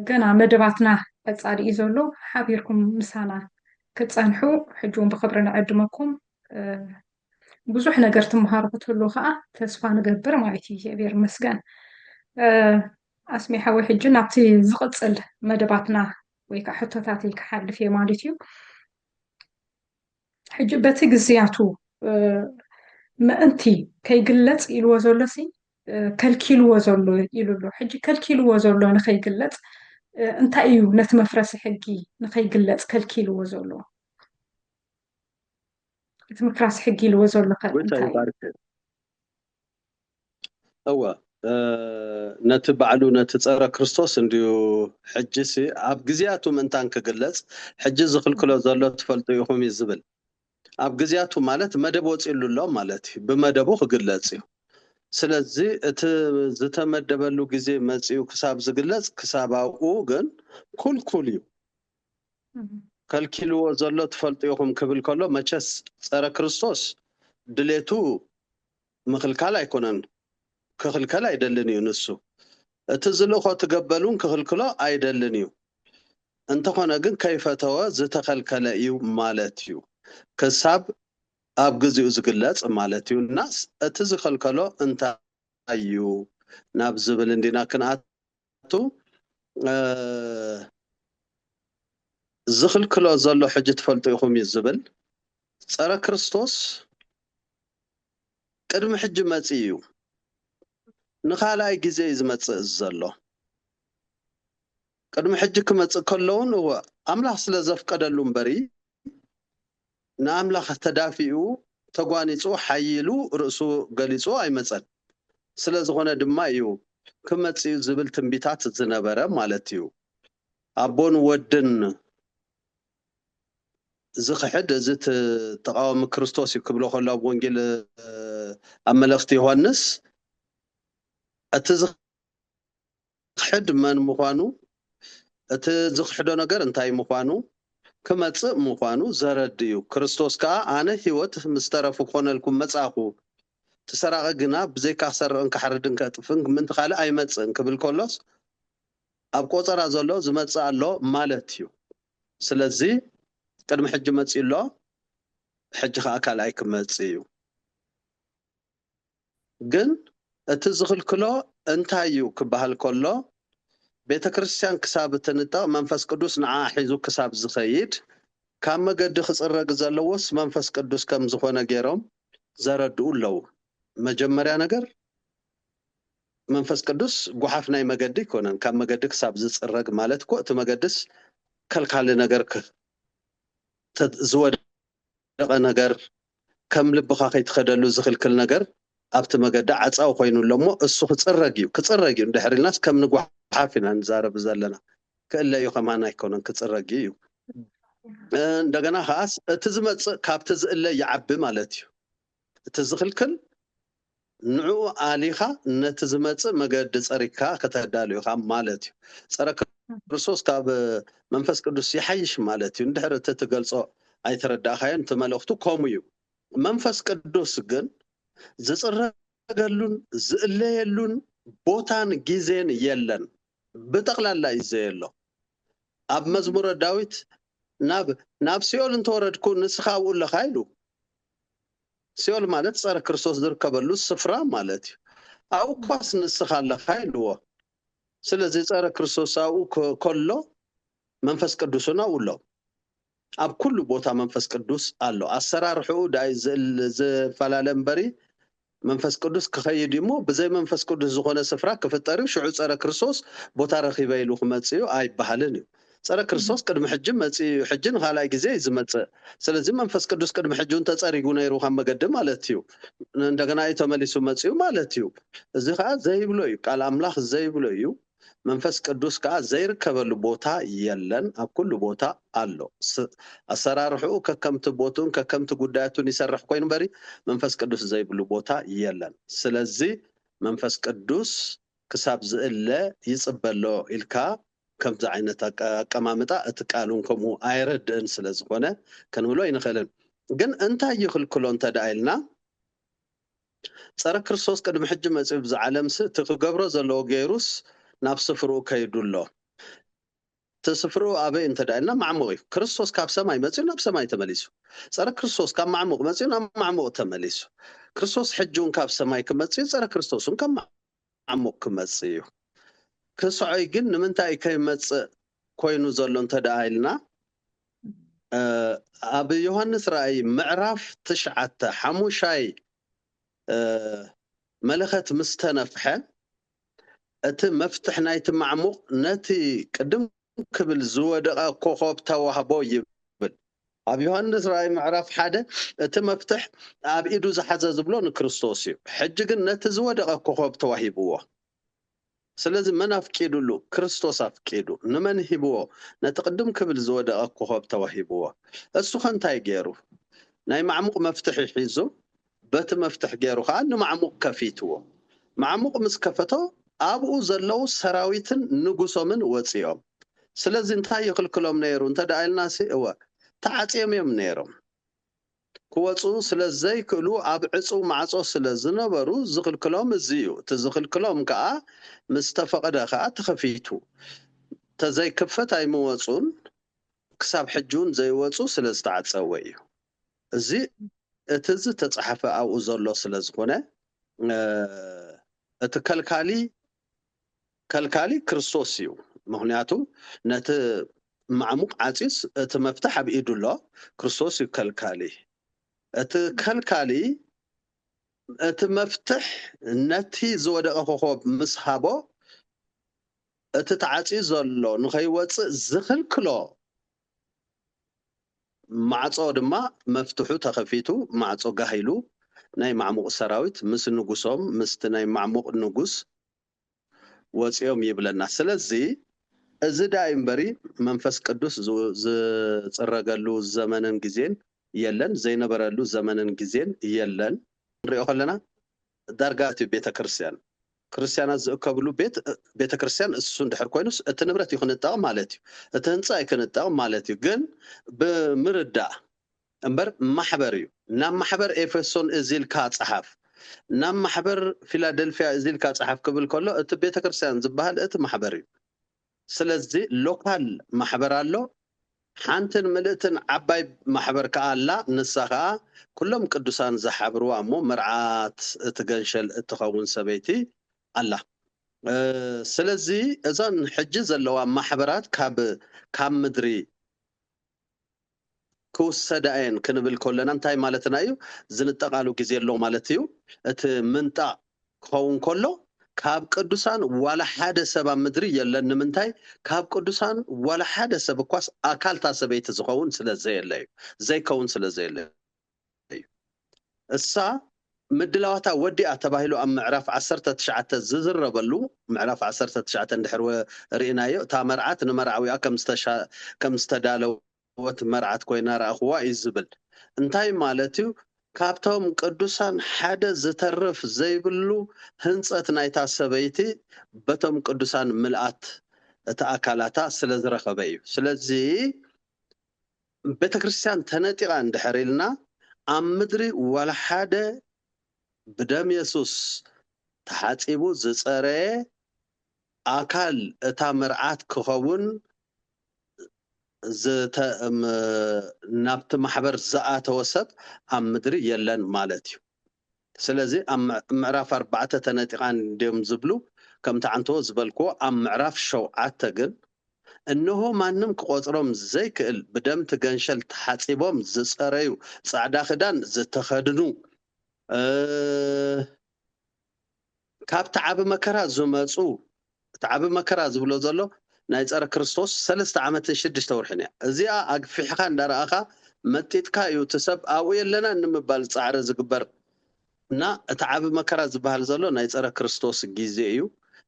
ገና መደባትና ቀፃሊ እዩ ዘሎ ሓቢርኩም ምሳና ክፀንሑ ሕጂ እውን ብክብሪ ንዕድመኩም ብዙሕ ነገር ትምሃሩ ክትህሉ ከዓ ተስፋ ንገብር ማለት እዩ እግዚኣብሔር ይመስገን ኣስሜ ሓወይ ሕጂ ናብቲ ዝቕፅል መደባትና ወይ ከዓ ሕቶታተይ ክሓልፍ እየ ማለት እዩ ሕጂ በቲ ግዝያቱ ምእንቲ ከይግለጽ ኢልዎ ዘሎ ሲ ከልኪልዎ ዘሎ ኢሉ ኣሎ ሕጂ ከልኪልዎ ዘሎ ንኸይግለጽ እንታይ እዩ ነቲ መፍረሲ ሕጊ ንኸይግለጽ ከልኪልዎ ዘሎ እቲ ምፍራስ ሕጊ ኢልዎ ዘሎ እንታይ እወ ነቲ ባዕሉ ነቲ ጸረ ክርስቶስ እንድዩ ሕጂሲ ኣብ ግዜያቱ ምእንታን ክግለጽ ሕጂ ዝኽልክሎ ዘሎ ትፈልጡ ኢኹም እዩ ዝብል ኣብ ግዜያቱ ማለት መደብ ወጺሉ ኣሎ ማለት እዩ ብመደቡ ክግለጽ እዩ ስለዚ እቲ ዝተመደበሉ ግዜ መጺኡ ክሳብ ዝግለጽ ክሳብ ኣብኡ ግን ኩልኩል እዩ ከልኪልዎ ዘሎ ትፈልጡ ኢኹም ክብል ከሎ መቸስ ጸረ ክርስቶስ ድሌቱ ምኽልካል ኣይኮነን ክኽልከል ኣይደልን እዩ ንሱ እቲ ዝልእኾ ትገበል ውን ክኽልክሎ ኣይደልን እዩ እንተኾነ ግን ከይፈተወ ዝተኸልከለ እዩ ማለት እዩ ክሳብ ኣብ ግዚኡ ዝግለጽ ማለት እዩ እናስ እቲ ዝኸልከሎ እንታይ እዩ ናብ ዝብል እንዲና ክንኣ ምኽንያቱ ዝኽልክሎ ዘሎ ሕጂ ትፈልጡ ኢኹም እዩ ዝብል ጸረ ክርስቶስ ቅድሚ ሕጂ መጺኡ እዩ ንኻልኣይ ግዜ እዩ ዝመጽእ ዘሎ ቅድሚ ሕጂ ክመጽእ ከለውን እወ ኣምላኽ ስለ ዘፍቀደሉ እምበሪ ንኣምላኽ ተዳፊኡ፣ ተጓኒጹ፣ ሓዪሉ፣ ርእሱ ገሊጹ ኣይመጸን። ስለ ዝኾነ ድማ እዩ ክመጽእ'ዩ ዝብል ትንቢታት ዝነበረ ማለት'ዩ። ኣቦን ወድን ዝኽሕድ እዚ ተቓዋሚ ክርስቶስ እዩ ክብሎ ከሎ ኣብ ወንጌል ኣብ መልእኽቲ ዮሃንስ እቲ ክሕድ መን ምዃኑ፣ እቲ ዝኽሕዶ ነገር እንታይ ምዃኑ፣ ክመጽእ ምዃኑ ዘረድ እዩ። ክርስቶስ ከኣ ኣነ ሕይወት ምስ ተረፉ ክኾነልኩም መጻእኩ፣ እቲ ሰራቒ ግና ብዘይካ ክሰርቕን ክሓርድን ከጥፍእን ምእንቲ ካልእ ኣይመጽእን ክብል ከሎስ ኣብ ቆጸራ ዘሎ ዝመጽእ ኣሎ ማለት እዩ። ስለዚ ቅድሚ ሕጂ መጺኡ ኣሎ ሕጂ ከኣ ካልኣይ ክመጽእ እዩ። ግን እቲ ዝኽልክሎ እንታይ እዩ ክበሃል ከሎ ቤተ ክርስቲያን ክሳብ እትንጠቕ መንፈስ ቅዱስ ንዓኣ ሒዙ ክሳብ ዝኸይድ ካብ መገዲ ክጽረግ ዘለዎስ መንፈስ ቅዱስ ከም ዝኾነ ጌሮም ዘረድኡ ኣለዉ መጀመርያ ነገር መንፈስ ቅዱስ ጓሓፍ ናይ መገዲ ኣይኮነን ካብ መገዲ ክሳብ ዝጽረግ ማለት እኮ እቲ መገድስ ከልካሊ ነገር ዝወደ ዝወደቐ ነገር፣ ከም ልብኻ ከይትኸደሉ ዝኽልክል ነገር ኣብቲ መገዲ ዓጻው ኮይኑ ኣሎ እሞ እሱ ክጽረግ እዩ ክጽረግ እዩ እንድሕር ኢልናስ ከም ንጓሓፍ ኢና ንዛረብ ዘለና ክእለ እዩ ከማን ኣይኮነን ክጽረግ እዩ እንደገና ከኣስ እቲ ዝመጽእ ካብቲ ዝእለ ይዓቢ ማለት እዩ እቲ ዝኽልክል ንዕኡ ኣሊኻ ነቲ ዝመጽእ መገዲ ጸሪግካ ከተዳሉ ኢኻ ማለት እዩ። ጸረ ክርስቶስ ካብ መንፈስ ቅዱስ ይሓይሽ ማለት እዩ። እንድሕር እቲ ትገልጾ ኣይተረዳእካዮን እቲ መልእኽቱ ከምኡ እዩ። መንፈስ ቅዱስ ግን ዝጽረገሉን ዝእለየሉን ቦታን ግዜን የለን። ብጠቕላላ እዩ ዘየሎ። ኣብ መዝሙረ ዳዊት ናብ ናብ ሲኦል እንተወረድኩ ንስኻ ኣብኡ ኣለኻ ኢሉ። ሲኦል ማለት ጸረ ክርስቶስ ዝርከበሉ ስፍራ ማለት እዩ። ኣብኡ እኳስ ንስኻ ኣለኻ ኢልዎ። ስለዚ ጸረ ክርስቶስ ኣብኡ ከሎ መንፈስ ቅዱስ እውን ኣብኡ ኣሎ። ኣብ ኩሉ ቦታ መንፈስ ቅዱስ ኣሎ። ኣሰራርሕኡ ድኣ እዩ ዝፈላለ እምበሪ መንፈስ ቅዱስ ክኸይድ እዩ እሞ ብዘይ መንፈስ ቅዱስ ዝኾነ ስፍራ ክፍጠር እዩ ሽዑ ጸረ ክርስቶስ ቦታ ረኺበ ኢሉ ክመጽእ እዩ ኣይበሃልን እዩ። ጸረ ክርስቶስ ቅድሚ ሕጂ መጺኡ እዩ ሕጂ ንካልኣይ ግዜ እዩ ዝመጽእ ስለዚ መንፈስ ቅዱስ ቅድሚ ሕጂ ውን ተጸሪጉ ነይሩ ካብ መገዲ ማለት እዩ እንደገና እዩ ተመሊሱ መጺኡ ማለት እዩ እዚ ከኣ ዘይብሎ እዩ ቃል ኣምላኽ ዘይብሎ እዩ መንፈስ ቅዱስ ከኣ ዘይርከበሉ ቦታ የለን ኣብ ኩሉ ቦታ ኣሎ ኣሰራርሕኡ ከከምቲ ቦትኡን ከከምቲ ጉዳያቱን ይሰርሕ ኮይኑ በሪ መንፈስ ቅዱስ ዘይብሉ ቦታ የለን ስለዚ መንፈስ ቅዱስ ክሳብ ዝእለ ይጽበሎ ኢልካ ከምዚ ዓይነት ኣቀማምጣ እቲ ቃሉን ከምኡ ኣየረድእን ስለ ዝኾነ ክንብሎ ኣይንኽእልን። ግን እንታይ ይኽልክሎ እንተ ደኣ ኢልና፣ ጸረ ክርስቶስ ቅድሚ ሕጂ መጺኡ ብዛ ዓለምሲ እቲ ክገብሮ ዘለዎ ገይሩስ ናብ ስፍርኡ ከይዱ ኣሎ። እቲ ስፍርኡ ኣበይ እንተ ደኣ ኢልና ማዕሙቕ እዩ። ክርስቶስ ካብ ሰማይ መጺኡ ናብ ሰማይ ተመሊሱ። ጸረ ክርስቶስ ካብ ማዕሙቕ መጺኡ ናብ ማዕሙቕ ተመሊሱ። ክርስቶስ ሕጂ እውን ካብ ሰማይ ክመጽእ እዩ፣ ጸረ ክርስቶስ እውን ካብ ዓሙቕ ክመጽእ እዩ። ክስዖይ ግን ንምንታይ እዩ ከይመጽእ ኮይኑ ዘሎ እንተድኣ ኢልና፣ ኣብ ዮሃንስ ራእይ ምዕራፍ ትሽዓተ ሓሙሻይ መለኸት ምስ ተነፍሐ፣ እቲ መፍትሕ ናይቲ ማዕሙቕ ነቲ ቅድም ደው ክብል ዝወደቐ ኮኾብ ተዋህቦ ይብል። ኣብ ዮሃንስ ራእይ ምዕራፍ ሓደ እቲ መፍትሕ ኣብ ኢዱ ዝሓዘ ዝብሎ ንክርስቶስ እዩ። ሕጂ ግን ነቲ ዝወደቐ ኮኾብ ተዋሂብዎ። ስለዚ መን ኣፍቂዱሉ? ክርስቶስ ኣፍቂዱ። ንመን ሂብዎ? ነቲ ቅድም ክብል ዝወደቐ ኮኾብ ተዋሂብዎ። እሱኸ እንታይ ገይሩ? ናይ ማዕሙቕ መፍትሒ ሒዙ በቲ መፍትሕ ገይሩ ከኣ ንማዕሙቕ ከፊትዎ። ማዕሙቕ ምስ ከፈቶ ኣብኡ ዘለዉ ሰራዊትን ንጉሶምን ወጺኦም። ስለዚ እንታይ ይኽልክሎም ነይሩ እንተ ደኣ ኢልናሲ፣ እወ ተዓጽዮም እዮም ነይሮም። ክወጽኡ ስለ ዘይክእሉ ኣብ ዕጽው ማዕጾ ስለ ዝነበሩ ዝኽልክሎም እዚ እዩ። እቲ ዝኽልክሎም ከኣ ምስ ተፈቕደ ከኣ ተኸፊቱ። እንተ ዘይክፈት ኣይምወጹን፣ ክሳብ ሕጂውን ዘይወጹ ስለ ዝተዓጸወ እዩ። እዚ እቲ ዝተጻሕፈ ኣብኡ ዘሎ ስለ ዝኹነ እቲ ከልካሊ ከልካሊ ክርስቶስ እዩ ምኽንያቱ ነቲ ማዕሙቕ ዓጺዩስ እቲ መፍትሕ ኣብ ኢዱ ኣሎ ክርስቶስ እዩ ከልካሊ እቲ ከልካሊ እቲ መፍትሕ ነቲ ዝወደቐ ኮኾብ ምስ ሃቦ እቲ ተዓጽዩ ዘሎ ንኸይወጽእ ዝኽልክሎ ማዕጾ ድማ መፍትሑ ተኸፊቱ ማዕጾ ጋህ ኢሉ ናይ ማዕሙቕ ሰራዊት ምስ ንጉሶም ምስቲ ናይ ማዕሙቕ ንጉስ ወጺኦም ይብለና ስለዚ እዚ ዳዩ እምበሪ መንፈስ ቅዱስ ዝጽረገሉ ዘመንን ግዜን የለን ዘይነበረሉ ዘመንን ግዜን የለን ክንሪኦ ከለና ዳርጋ እቲ ቤተ ክርስቲያን ክርስቲያናት ዝእከብሉ ቤት ቤተ ክርስቲያን እሱ እንድሕር ኮይኑስ እቲ ንብረት ይክንጠቕ ማለት እዩ። እቲ ህንጻ ይክንጠቕ ማለት እዩ። ግን ብምርዳእ እምበር ማሕበር እዩ። ናብ ማሕበር ኤፌሶን እዚ ኢልካ ጸሓፍ፣ ናብ ማሕበር ፊላደልፍያ እዚ ኢልካ ጸሓፍ ክብል ከሎ እቲ ቤተ ክርስቲያን ዝበሃል እቲ ማሕበር እዩ። ስለዚ ሎካል ማሕበር ኣሎ፣ ሓንትን ምልእትን ዓባይ ማሕበር ከኣ ኣላ፣ ንሳ ከኣ ኩሎም ቅዱሳን ዝሓብርዋ እሞ መርዓት እቲ ገንሸል እትኸውን ሰበይቲ ኣላ። ስለዚ እዘን ሕጂ ዘለዋ ማሕበራት ካብ ካብ ምድሪ። ክውሰዳ እየን ክንብል ከለና እንታይ ማለትና እዩ? ዝንጠቓሉ ግዜ ኣሎ ማለት እዩ። እቲ ምንጣቕ ክኸውን ከሎ ካብ ቅዱሳን ዋላ ሓደ ሰብ ኣብ ምድሪ የለን። ንምንታይ? ካብ ቅዱሳን ዋላ ሓደ ሰብ እኳስ ኣካል እታ ሰበይቲ ዝኸውን ስለ ዘየለ እዩ። ዘይከውን ስለ ዘየለ እዩ። እዩ። እሳ ምድላዋታ ወዲኣ ተባሂሉ ኣብ ምዕራፍ ዓሰርተ ትሽዓተ ዝዝረበሉ፣ ምዕራፍ ዓሰርተ ትሽዓተ እንድሕር ርኢናዮ፣ እታ መርዓት ንመርዓዊኣ ከም ዝተዳለወት መርዓት ኮይና ረኣኹዋ እዩ ዝብል። እንታይ ማለት እዩ? ካብቶም ቅዱሳን ሓደ ዝተርፍ ዘይብሉ ህንጸት ናይታ ሰበይቲ በቶም ቅዱሳን ምልኣት እቲ ኣካላታ ስለ ዝረኸበ እዩ። ስለዚ፣ ቤተክርስትያን ተነጢቃ እንድሕር ኢልና ኣብ ምድሪ ዋላ ሓደ ብደም የሱስ ተሓጺቡ ዝጸረየ ኣካል እታ መርዓት ክኸውን ናብቲ ማሕበር ዝኣተወ ሰብ ኣብ ምድሪ የለን ማለት እዩ። ስለዚ ኣብ ምዕራፍ ኣርባዕተ ተነጢቓ እንድዮም ዝብሉ፣ ከምቲ ዓንተቦ ዝበልክዎ ኣብ ምዕራፍ ሸውዓተ ግን እነሆ ማንም ክቖጽሮም ዘይክእል ብደም እቲ ገንሸል ተሓጺቦም ዝጸረዩ ጻዕዳ ክዳን ዝተኸድኑ እ። ካብቲ ዓቢ መከራ ዝመጹ እቲ ዓቢ መከራ ዝብሎ ዘሎ ናይ ጸረ ክርስቶስ ሰለስተ ዓመትን ሽድሽተ ወርሕን እያ። እዚኣ ኣግፊሕኻ እንዳረኣኻ መጢጥካ እዩ እቲ ሰብ ኣብኡ የለናን ንምባል ጻዕሪ ዝግበር እና እቲ ዓቢ መከራ ዝበሃል ዘሎ ናይ ጸረ ክርስቶስ ግዜ እዩ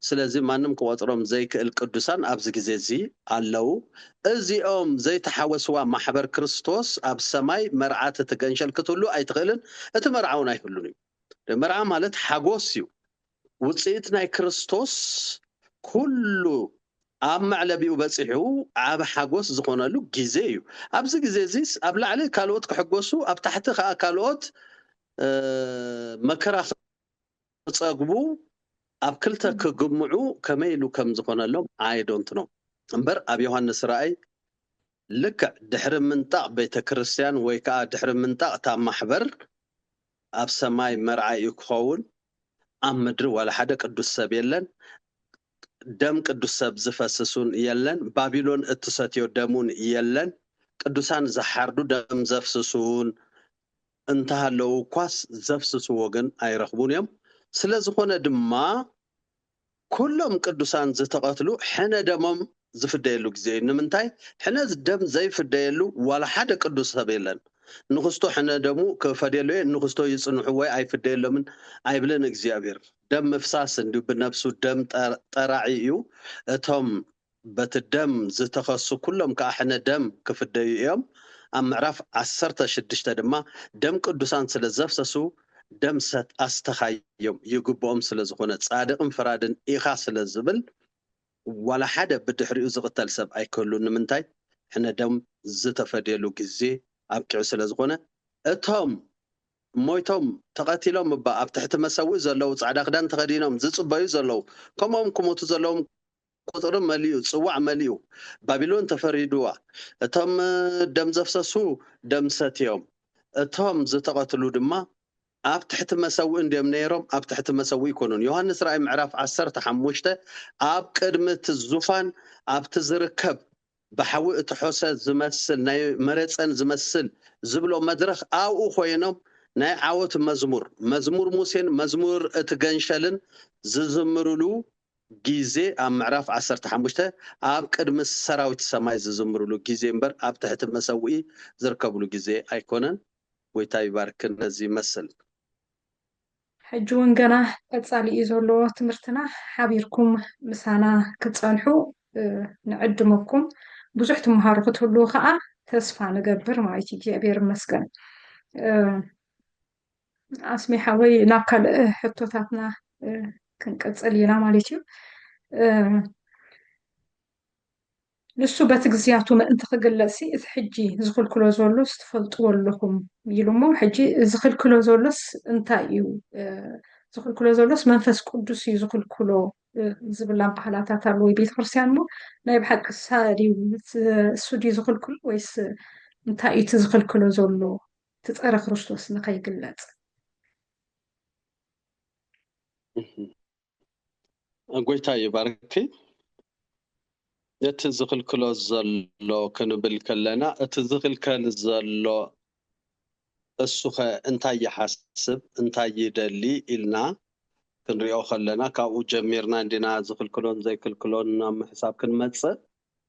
ስለዚ ማንም ክቆጽሮም ዘይክእል ቅዱሳን ኣብዚ ግዜ እዚ ኣለው እዚኦም ዘይተሓወስዋ ማሕበር ክርስቶስ ኣብ ሰማይ መርዓት እቲ ገንሸል ክትህሉ ኣይትኽእልን እቲ መርዓውን ኣይህሉን እዩ። መርዓ ማለት ሓጎስ እዩ፣ ውጽኢት ናይ ክርስቶስ ኩሉ ኣብ መዕለቢኡ በጺሑ ዓቢ ሓጎስ ዝኾነሉ ግዜ እዩ። ኣብዚ ግዜ እዚ ኣብ ላዕሊ ካልኦት ክሕጎሱ ኣብ ታሕቲ ከኣ ካልኦት መከራ ክጸግቡ ኣብ ክልተ ክግምዑ ከመይ ኢሉ ከም ዝኾነሎም ኣይ ዶንት ኖው እምበር ኣብ ዮሃንስ ራእይ ልክዕ ድሕሪ ምንጣቕ ቤተ ክርስቲያን ወይ ከዓ ድሕሪ ምንጣቕ እታ ማሕበር ኣብ ሰማይ መርዓ እዩ ክኸውን ኣብ ምድሪ ዋላ ሓደ ቅዱስ ሰብ የለን ደም ቅዱስ ሰብ ዝፈስስ ውን የለን ባቢሎን እትሰትዮ ደም ውን የለን ቅዱሳን ዝሓርዱ ደም ዘፍስሱ ውን እንተሃለዉ እኳስ ዘፍስስዎ ግን ኣይረኽቡን እዮም ስለዝኾነ ድማ ኩሎም ቅዱሳን ዝተቐትሉ ሕነ ደሞም ዝፍደየሉ ግዜ እዩ። ንምንታይ ሕነ ደም ዘይፍደየሉ ዋላ ሓደ ቅዱስ ሰብ የለን። ንኽስቶ ሕነ ደሙ ክፈድየሉ እየ ንኽስቶ ይጽንሑ ወይ ኣይፍደየሎምን ኣይብልን እግዚኣብሔር። ደም ምፍሳስ እንዲዩ ብነብሱ ደም ጠራዒ እዩ። እቶም በቲ ደም ዝተኸሱ ኵሎም ከኣ ሕነ ደም ክፍደዩ እዮም። ኣብ ምዕራፍ ዓሰርተ ሽዱሽተ ድማ ደም ቅዱሳን ስለ ዘፍሰሱ ደም ሰት ኣስተኻዮም ይግብኦም ስለ ዝዀነ ጻድቕን ፈራድን ኢኻ ስለ ዝብል ዋላ ሓደ ብድሕሪኡ ዝቕተል ሰብ ኣይክህሉን ንምንታይ ሕነ ደም ዝተፈድየሉ ግዜ ኣብቂዑ ስለ ዝዀነ እቶም ሞይቶም ተቐቲሎም እባ ኣብ ትሕቲ መሰውኢ ዘለዉ ጻዕዳ ክዳን ተኸዲኖም ዝጽበዩ ዘለዉ ከምኦም ክሞቱ ዘለዎም ቍጽሪ መሊኡ፣ ጽዋዕ መሊኡ፣ ባቢሎን ተፈሪዱዋ፣ እቶም ደም ዘፍሰሱ ደም ሰትዮም፣ እቶም ዝተቐትሉ ድማ ኣብ ትሕቲ መሰውኢ እንድዮም ነይሮም፣ ኣብ ትሕቲ መሰውኢ ኣይኰኑን። ዮሃንስ ራእይ ምዕራፍ ዓሰርተ ሓሙሽተ ኣብ ቅድሚ እቲ ዙፋን ኣብቲ ዚርከብ ብሓዊ እተሖሰ ዚመስል ናይ መረጸን ዚመስል ዚብሎ መድረኽ ኣብኡ ዀይኖም ናይ ዓወት መዝሙር፣ መዝሙር ሙሴን መዝሙር እቲ ገንሸልን ዚዝምሩሉ ግዜ ኣብ ምዕራፍ ዓሰርተ ሓሙሽተ ኣብ ቅድሚ ሰራዊት ሰማይ ዝዝምርሉ ግዜ እምበር ኣብ ትሕቲ መሰውኢ ዝርከብሉ ግዜ ኣይኮነን ጎይታ ይባርክ ነዚ ይመስል። ሕጂ ውን ገና ቀጻሊ እዩ ዘሎ ትምህርትና ሓቢርኩም ምሳና ክትጸንሑ ንዕድመኩም ብዙሕ ትመሃሩ ክትህልዉ ከኣ ተስፋ ንገብር ማለት እዩ እግዚኣብሔር ይመስገን። ኣስሜ ሓወይ ናብ ካልእ ሕቶታትና ክንቅፅል ኢና ማለት እዩ ንሱ በቲ ግዝያቱ ምእንቲ ክግለጽሲ እቲ ሕጂ ዝኽልክሎ ዘሎስ ትፈልጥዎ ኣለኹም ኢሉ እሞ ሕጂ ዝኽልክሎ ዘሎስ እንታይ እዩ ዝኽልክሎ ዘሎስ መንፈስ ቅዱስ እዩ ዝኽልክሎ ዝብል ኣባህላታት ኣሎ ወይ ቤተ ክርስትያን እሞ ናይ ብሓቂ ሳድዩ እሱ ድዩ ዝኽልክሎ ወይስ እንታይ እዩ እቲ ዝኽልክሎ ዘሎ እቲ ፀረ ክርስቶስ ንከይግለፅ። ጎይታ ይባርኪ ነቲ ዝኽልክሎ ዘሎ ክንብል ከለና እቲ ዝኽልከል ዘሎ እሱኸ እንታይ ይሓስብ እንታይ ይደሊ ኢልና ክንሪኦ ከለና ካብኡ ጀሚርና እንዲና ዝኽልክሎን ዘይክልክሎን ናብ ምሕሳብ ክንመፅእ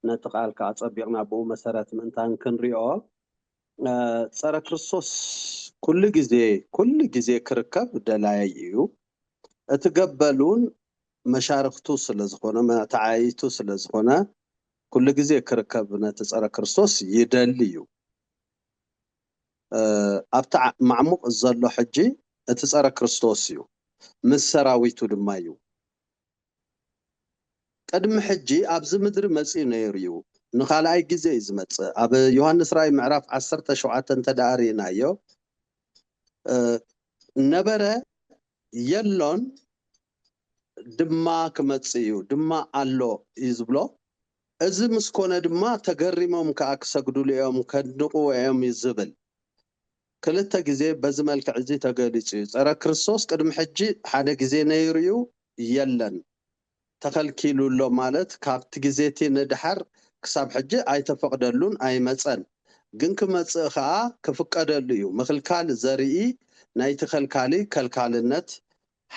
ነቲ ቃል ከዓ ፀቢቕና ብኡ መሰረት ምእንታን ክንሪኦ ጸረ ክርስቶስ ኩሉ ግዜ ኩሉ ግዜ ክርከብ ደላዪ እዩ። እቲ ገበልውን መሻርኽቱ ስለ ዝኾነ መተዓይይቱ ስለ ዝኾነ ኩሉ ግዜ ክርከብ ነቲ ጸረ ክርስቶስ ይደሊ እዩ። ኣብቲ ማዕሙቕ ዘሎ ሕጂ እቲ ጸረ ክርስቶስ እዩ ምስ ሰራዊቱ ድማ እዩ። ቅድሚ ሕጂ ኣብዚ ምድሪ መጺኡ ነይሩ እዩ። ንኻልኣይ ግዜ እዩ ዝመጽእ። ኣብ ዮሃንስ ራእይ ምዕራፍ ዓሰርተ ሸውዓተ እንተድኣ ርኢናዮ፣ ነበረ፣ የሎን፣ ድማ ክመጽእ እዩ፣ ድማ ኣሎ እዩ ዝብሎ። እዚ ምስ ኰነ ድማ ተገሪሞም ከኣ ክሰግዱሉ እዮም፣ ከድንቕዎ እዮም እዩ ዝብል። ክልተ ግዜ በዚ መልክዕ'ዚ ተገሊጹ እዩ። ጸረ ክርስቶስ ቅድሚ ሕጂ ሓደ ግዜ ነይሩ'ዩ የለን። ተኸልኪሉ ኣሎ ማለት ካብቲ ግዜ'ቲ ንደሓር ክሳብ ሕጂ ኣይተፈቕደሉን ኣይመጸን። ግን ክመጽእ ከኣ ክፍቀደሉ እዩ። ምኽልካል ዘርኢ ናይቲ ከልካሊ ከልካልነት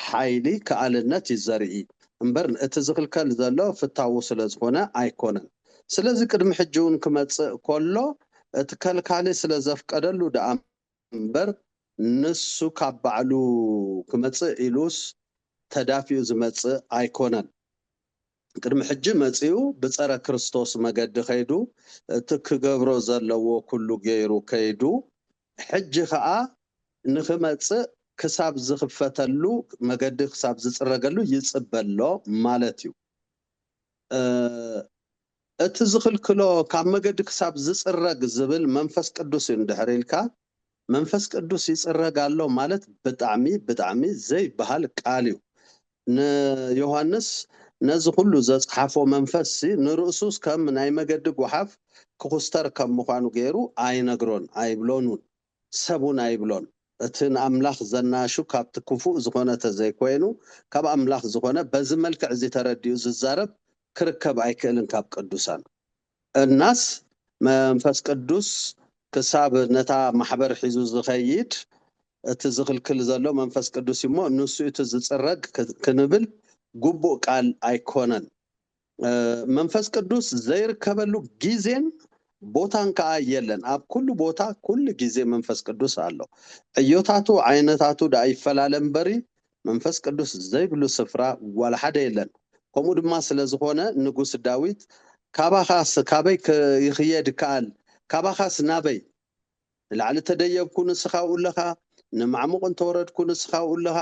ሓይሊ ክኣልነት እዩ ዘርኢ እምበር እቲ ዝኽልከል ዘሎ ፍታዉ ስለ ዝኾነ ኣይኮነን ስለዚ ቅድሚ ሕጂ ዉን ክመጽእ ኮሎ እቲ ከልካሊ ስለ ዘፍቀደሉ ድኣ እምበር ንሱ ካብ ባዕሉ ክመጽእ ኢሉስ ተዳፊኡ ዝመጽእ ኣይኮነን። ቅድሚ ሕጂ መጺኡ ብጸረ ክርስቶስ መገዲ ከይዱ እቲ ክገብሮ ዘለዎ ኩሉ ገይሩ ከይዱ ሕጂ ከኣ ንክመጽእ ክሳብ ዝክፈተሉ መገዲ ክሳብ ዝጽረገሉ ይጽበ ኣሎ ማለት እዩ እቲ ዝክልክሎ ካብ መገዲ ክሳብ ዝጽረግ ዝብል መንፈስ ቅዱስ እዩ እንድሕር ኢልካ መንፈስ ቅዱስ ይጽረግ ኣሎ ማለት ብጣዕሚ ብጣዕሚ ዘይበሃል ቃል እዩ ን ዮሃንስ ነዚ ኩሉ ዘጽሓፎ መንፈስሲ ንርእሱስ ከም ናይ መገዲ ጎሓፍ ክኹስተር ከም ምዃኑ ጌሩ ኣይነግሮን ኣይብሎን ውን ሰብ ውን ኣይብሎን እቲ ን ኣምላኽ ዘናሹ ካብቲ ክፉእ ዝኾነ ተዘይኮይኑ ካብ ኣምላኽ ዝኾነ በዚ መልክዕ እዚ ተረዲኡ ዝዛረብ ክርከብ ኣይክእልን ካብ ቅዱሳን እናስ፣ መንፈስ ቅዱስ ክሳብ ነታ ማሕበር ሒዙ ዝኸይድ፣ እቲ ዝኽልክል ዘሎ መንፈስ ቅዱስ እዩ እሞ፣ ንሱ እዩ እቲ ዝጽረግ ክንብል ግቡእ ቃል ኣይኮነን። መንፈስ ቅዱስ ዘይርከበሉ ግዜን ቦታን ከኣ የለን። ኣብ ኩሉ ቦታ ኩሉ ግዜ መንፈስ ቅዱስ ኣሎ። ዕዮታቱ ዓይነታቱ ደኣ ይፈላለ እምበሪ፣ መንፈስ ቅዱስ ዘይብሉ ስፍራ ዋላ ሓደ የለን ከምኡ ድማ ስለ ዝኾነ ንጉስ ዳዊት ካባኻስ ካበይ ክይኽየድ ይከኣል ካባኻስ ናበይ ንላዕሊ እተደየብኩ ንስኻ ኣብኡ ኣለኻ ንማዕሙቕ እንተወረድኩ ንስኻ ኣብኡ ኣለኻ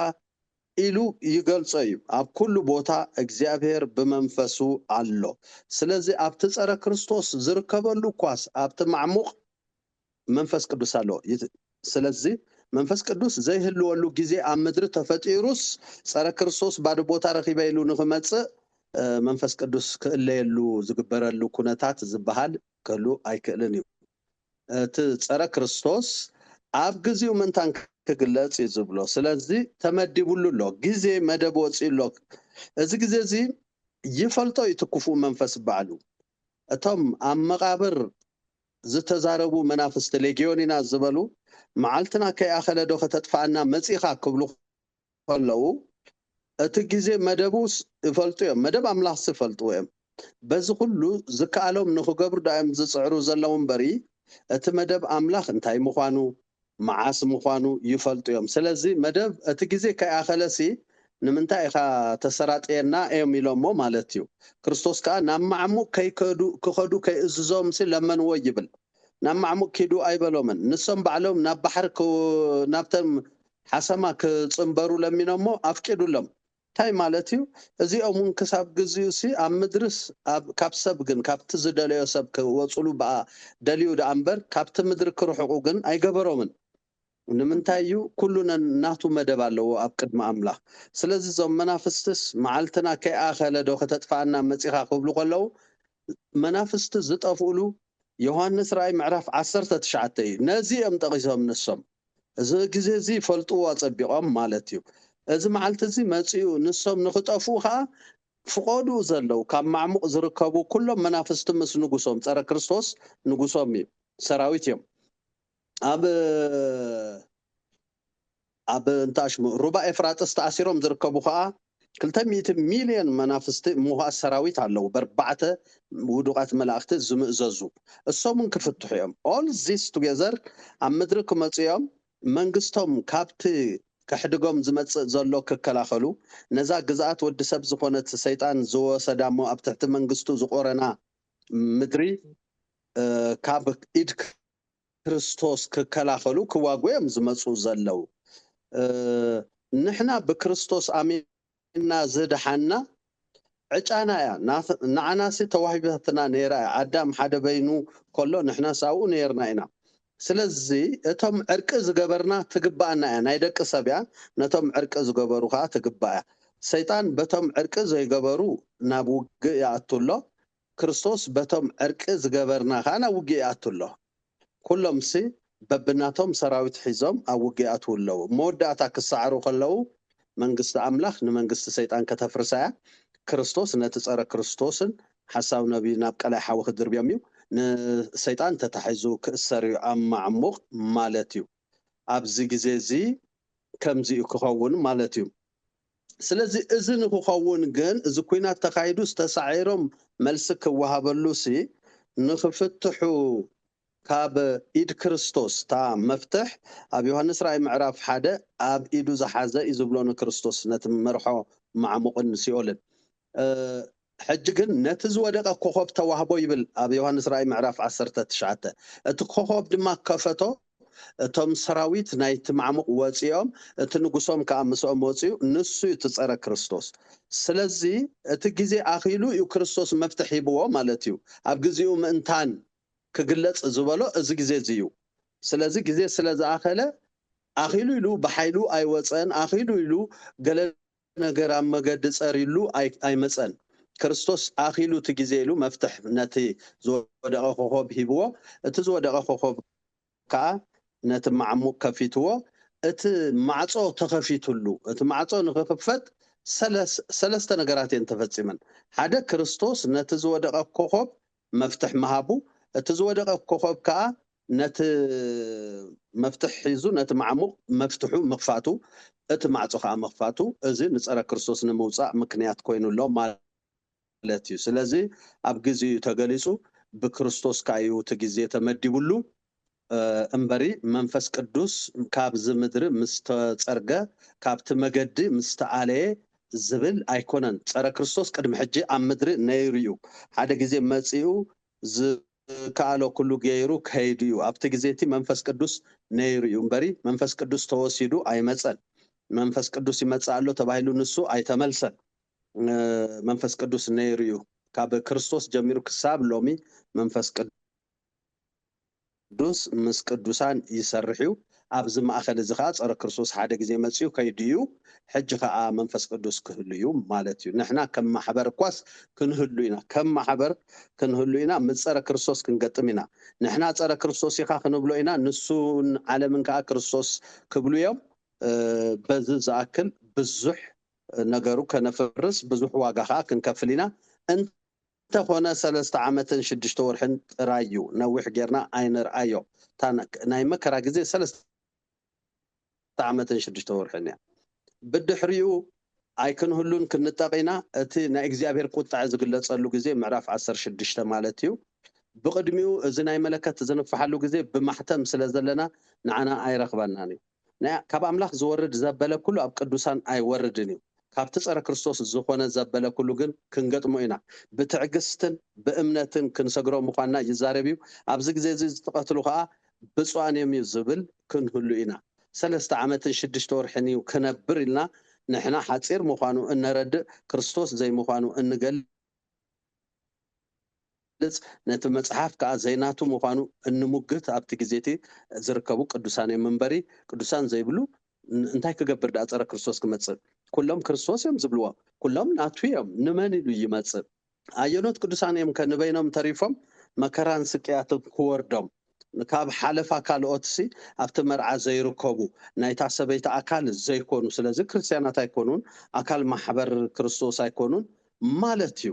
ኢሉ ይገልጾ እዩ ኣብ ኩሉ ቦታ እግዚኣብሔር ብመንፈሱ ኣሎ ስለዚ ኣብቲ ጸረ ክርስቶስ ዝርከበሉ እኳስ ኣብቲ ማዕሙቕ መንፈስ ቅዱስ ኣሎ ይት ስለዚ መንፈስ ቅዱስ ዘይህልወሉ ግዜ ኣብ ምድሪ ተፈጢሩስ ጸረ ክርስቶስ ባዶ ቦታ ረኺበ ኢሉ ንኽመጽእ መንፈስ ቅዱስ ክእለየሉ ዝግበረሉ ኩነታት ዝበሃል ክህሉ ኣይክእልን እዩ እቲ ጸረ ክርስቶስ ኣብ ግዚኡ ምንታን ክግለጽ እዩ ዝብሎ ስለዚ ተመዲቡሉ ኣሎ ግዜ መደብ ወጺኡ ኣሎ እዚ ግዜ እዚ ይፈልጦ እዩ ትክፉእ መንፈስ ባዕሉ እቶም ኣብ መቓብር ዝተዛረቡ መናፍስቲ ሌግዮን ኢና ዝበሉ መዓልትና ከይኣኸለ ዶ ከተጥፍኣና መጺኻ ክብሉ ከለዉ እቲ ግዜ መደቡስ ይፈልጡ እዮም መደብ ኣምላኽሲ ይፈልጥዎ እዮም በዚ ኩሉ ዝከኣሎም ንኽገብሩ ዶ ኣዮም ዝጽዕሩ ዘለዉ እምበሪ እቲ መደብ ኣምላኽ እንታይ ምዃኑ መዓስ ምዃኑ ይፈልጡ እዮም። ስለዚ መደብ እቲ ግዜ ከይኣኸለሲ ንምንታይ ኢኻ ተሰራጥየና እዮም ኢሎሞ ማለት እዩ። ክርስቶስ ከኣ ናብ ማዕሙቕ ከይከዱ ክኸዱ ከይእዝዞምሲ ለመንዎ ይብል። ናብ ማዕሙቕ ኪዱ ኣይበሎምን። ንሶም ባዕሎም ናብ ባሕሪ ናብተን ሓሰማ ክጽንበሩ ለሚኖሞ ኣፍቂዱሎም። እንታይ ማለት እዩ እዚኦም ውን ክሳብ ግዚኡ ሲ ኣብ ምድርስ ኣብ ካብ ሰብ ግን ካብቲ ዝደለዮ ሰብ ክወጹሉ ብኣ ደልዩ ድኣ እምበር ካብቲ ምድሪ ክርሕቁ ግን ኣይገበሮምን ንምንታይ እዩ ኩሉ ነናቱ መደብ ኣለዎ ኣብ ቅድሚ ኣምላኽ ስለዚ እዞም መናፍስትስ መዓልትና ከይኣኸለ ዶ ከተጥፍኣና መጺኻ ክብሉ ከለዉ መናፍስቲ ዝጠፍኡሉ ዮሃንስ ራእይ ምዕራፍ ዓሰርተ ትሽዓተ እዩ ነዚ እዮም ጠቂሶም ንሶም እዚ ግዜ እዚ ይፈልጥዎ ኣጸቢቆም ማለት እዩ እዚ መዓልቲ እዚ መጺኡ ንሶም ንክጠፍኡ ከኣ ፍቆድኡ ዘለው ካብ ማዕሙቅ ዝርከቡ ኩሎም መናፍስቲ ምስ ንጉሶም ጸረ ክርስቶስ ንጉሶም እዩ ሰራዊት እዮም ኣብ ኣብ እንታሽሙ ሩባ ኤፍራጥስ ተኣሲሮም ዝርከቡ ከኣ ክልተ ሚእቲ ሚልዮን መናፍስቲ ምሁኣት ሰራዊት ኣለዉ በርባዕተ ውዱቃት መላእክቲ ዝምእዘዙ እሶም ውን ክፍትሑ እዮም all this together ኣብ ምድሪ ክመጹ እዮም መንግስቶም ካብቲ ከሕድጎም ዝመጽእ ዘሎ ክከላከሉ ነዛ ግዝኣት ወዲ ሰብ ዝኮነት ሰይጣን ዝወሰዳ እሞ ኣብ ትሕቲ መንግስቱ ዝቆረና ምድሪ ካብ ኢድ ክርስቶስ ክከላኸሉ ክዋግኡ እዮም ዝመጹ ዘለው ንሕና ብክርስቶስ ኣሚንና ዝደሓንና ዕጫና እያ ንዓናሲ ተዋሂባትና ነይራ እያ ኣዳም ሓደ በይኑ ከሎ ንሕናስ ኣብኡ ነይርና ኢና ስለዚ እቶም ዕርቂ ዝገበርና ትግባኣና እያ ናይ ደቂ ሰብ እያ ነቶም ዕርቂ ዝገበሩ ከኣ ትግባእ እያ ሰይጣን በቶም ዕርቂ ዘይገበሩ ናብ ውግእ ይኣቱ ኣሎ ክርስቶስ በቶም ዕርቂ ዝገበርና ከኣ ናብ ውግእ ይኣቱ ኣሎ። ኩሎምሲ በብናቶም ሰራዊት ሒዞም ኣብ ውግእ ይኣትዉ ኣለዉ። ኣብ መወዳእታ ክሰዓሩ ከለዉ መንግስቲ ኣምላኽ ንመንግስቲ ሰይጣን ከተፍርሳ እያ። ክርስቶስ ነቲ ጸረ ክርስቶስን ሓሳዊ ነብይን ናብ ቀላይ ሓዊ ክድርብዮም እዩ። ንሰይጣን ተታሒዙ ክእሰር እዩ ኣብ ማዕሙቕ ማለት እዩ። ኣብዚ ግዜ እዚ ከምዚ እዩ ክኸውን ማለት እዩ። ስለዚ እዚ ንክኸውን ግን እዚ ኩናት ተኻይዱስ ተሳዒሮም መልሲ ክወሃበሉሲ ንክፍትሑ ካብ ኢድ ክርስቶስ እታ መፍትሕ ኣብ ዮሃንስ ራእይ ምዕራፍ ሓደ ኣብ ኢዱ ዝሓዘ እዩ ዝብሎ ንክርስቶስ ነቲ መርሖ ማዕሙቕን ሲኦልን ሕጂ ግን ነቲ ዝወደቀ ኮኾብ ተዋህቦ ይብል ኣብ ዮሃንስ ራእይ ምዕራፍ ዓሰርተ ትሽዓተ እቲ ኮኾብ ድማ ከፈቶ እቶም ሰራዊት ናይቲ ማዕሙቅ ወጺኦም እቲ ንጉሶም ከኣ ምስኦም ወጺኡ ንሱ እዩ እቲ ጸረ ክርስቶስ ስለዚ እቲ ግዜ ኣኺሉ እዩ ክርስቶስ መፍትሕ ሂብዎ ማለት እዩ ኣብ ግዚኡ ምእንታን ክግለጽ ዝበሎ እዚ ግዜ እዚ እዩ ስለዚ ግዜ ስለ ዝኣኸለ ኣኺሉ ኢሉ ብሓይሉ ኣይወጸን ኣኺሉ ኢሉ ገለ ነገር ኣብ መገዲ ጸርይሉ ኣይመጸን። ክርስቶስ ኣኺሉ እቲ ግዜ ኢሉ መፍትሕ ነቲ ዝወደቐ ኮኾብ ሂብዎ፣ እቲ ዝወደቐ ኮኾብ ከኣ ነቲ መዓሙቕ ከፊትዎ፣ እቲ ማዕጾ ተኸፊትሉ። እቲ ማዕጾ ንኽኽፈት ሰለስተ ነገራት እየን ተፈጺመን፣ ሓደ ክርስቶስ ነቲ ዝወደቐ ኮኾብ መፍትሕ ምሃቡ፣ እቲ ዝወደቐ ኮኾብ ከኣ ነቲ መፍትሕ ሒዙ ነቲ ማዕሙቕ መፍትሑ ምኽፋቱ፣ እቲ ማዕጾ ከኣ ምኽፋቱ፣ እዚ ንጸረ ክርስቶስ ንምውጻእ ምክንያት ኮይኑ ኣሎ ማለት እዩ። ስለዚ ኣብ ግዜኡ እዩ ተገሊጹ፣ ብክርስቶስ ከኣ እዩ እቲ ግዜ ተመዲቡሉ። እምበሪ መንፈስ ቅዱስ ካብዚ ምድሪ ምስ ተጸርገ ካብቲ መገዲ ምስ ተኣለየ ዝብል ኣይኮነን። ጸረ ክርስቶስ ቅድሚ ሕጂ ኣብ ምድሪ ነይሩ እዩ። ሓደ ግዜ መጺኡ ዝከኣሎ ኩሉ ገይሩ ከይዱ እዩ። ኣብቲ ግዜ እቲ መንፈስ ቅዱስ ነይሩ እዩ እምበሪ መንፈስ ቅዱስ ተወሲዱ ኣይመጸን። መንፈስ ቅዱስ ይመጽእ ኣሎ ተባሂሉ ንሱ ኣይተመልሰን። መንፈስ ቅዱስ ነይሩ እዩ። ካብ ክርስቶስ ጀሚሩ ክሳብ ሎሚ መንፈስ ቅዱስ። ቅዱስ ምስ ቅዱሳን ይሰርሕ እዩ ኣብዚ ማእከል እዚ ከኣ ጸረ ክርስቶስ ሓደ ግዜ መጺኡ ከይዱ እዩ ሕጂ ከኣ መንፈስ ቅዱስ ክህሉ እዩ ማለት እዩ ንሕና ከም ማሕበር እኳስ ክንህሉ ኢና ከም ማሕበር ክንህሉ ኢና ምስ ጸረ ክርስቶስ ክንገጥም ኢና ንሕና ጸረ ክርስቶስ ኢኻ ክንብሎ ኢና ንሱን ዓለምን ከኣ ክርስቶስ ክብሉ እዮም በዚ ዝኣክል ብዙሕ ነገሩ ከነፍርስ ብዙሕ ዋጋ ከኣ ክንከፍል ኢና እንተኾነ ሰለስተ ዓመትን ሽዱሽተ ወርሕን ጥራይ ዩ ነዊሕ ጌርና ኣይንርኣዮ እታ ናይ መከራ ግዜ ሰለስተ ዓመትን ሽዱሽተ ወርሕን እያ ብድሕሪኡ ኣይክንህሉን ክንጠቅ ኢና እቲ ናይ እግዚኣብሄር ቁጥዐ ዝግለጸሉ ግዜ ምዕራፍ ዓሰርተ ሽዱሽተ ማለት እዩ ብቅድሚኡ እዚ ናይ መለከት ዝንፍሓሉ ግዜ ብማሕተም ስለ ዘለና ንዓና ኣይረኽበናን እዩ። ናይ ካብ ኣምላኽ ዝወርድ ዘበለ ኩሉ ኣብ ቅዱሳን ኣይወርድን እዩ ካብቲ ጸረ ክርስቶስ ዝኾነ ዘበለ ኩሉ ግን ክንገጥሞ ኢና ብትዕግስትን ብእምነትን ክንሰግሮ ምዃንና ይዛረብ እዩ ኣብዚ ግዜ እዚ ዝትቐትሉ ከኣ ብጹኣን እዮም እዩ ዝብል ክንህሉ ኢና ሰለስተ ዓመትን ሽድሽተ ወርሕን እዩ ክነብር ኢልና ንሕና ሓጺር ምዃኑ እነረድእ ክርስቶስ ዘይምዃኑ እንገል ዝገልጽ ነቲ መጽሓፍ ከኣ ዘይናቱ ምዃኑ እንሙግት ኣብቲ ግዜቲ ዝርከቡ ቅዱሳን እዮም እምበሪ ቅዱሳን ዘይብሉ እንታይ ክገብር ደኣ ጸረ ክርስቶስ ክመጽእ ኩሎም ክርስቶስ እዮም ዝብልዎ ኩሎም ናቱ እዮም ንመን ኢሉ ይመጽእ ኣየኖት ቅዱሳን እዮም ከ ንበይኖም ተሪፎም መከራን ስቅያትን ክወርዶም ካብ ሓለፋ ካልኦትሲ ኣብቲ መርዓ ዘይርከቡ ናይታ ሰበይቲ ኣካል ዘይኮኑ ስለዚ ክርስትያናት ኣይኮኑን ኣካል ማሕበር ክርስቶስ ኣይኮኑን ማለት እዩ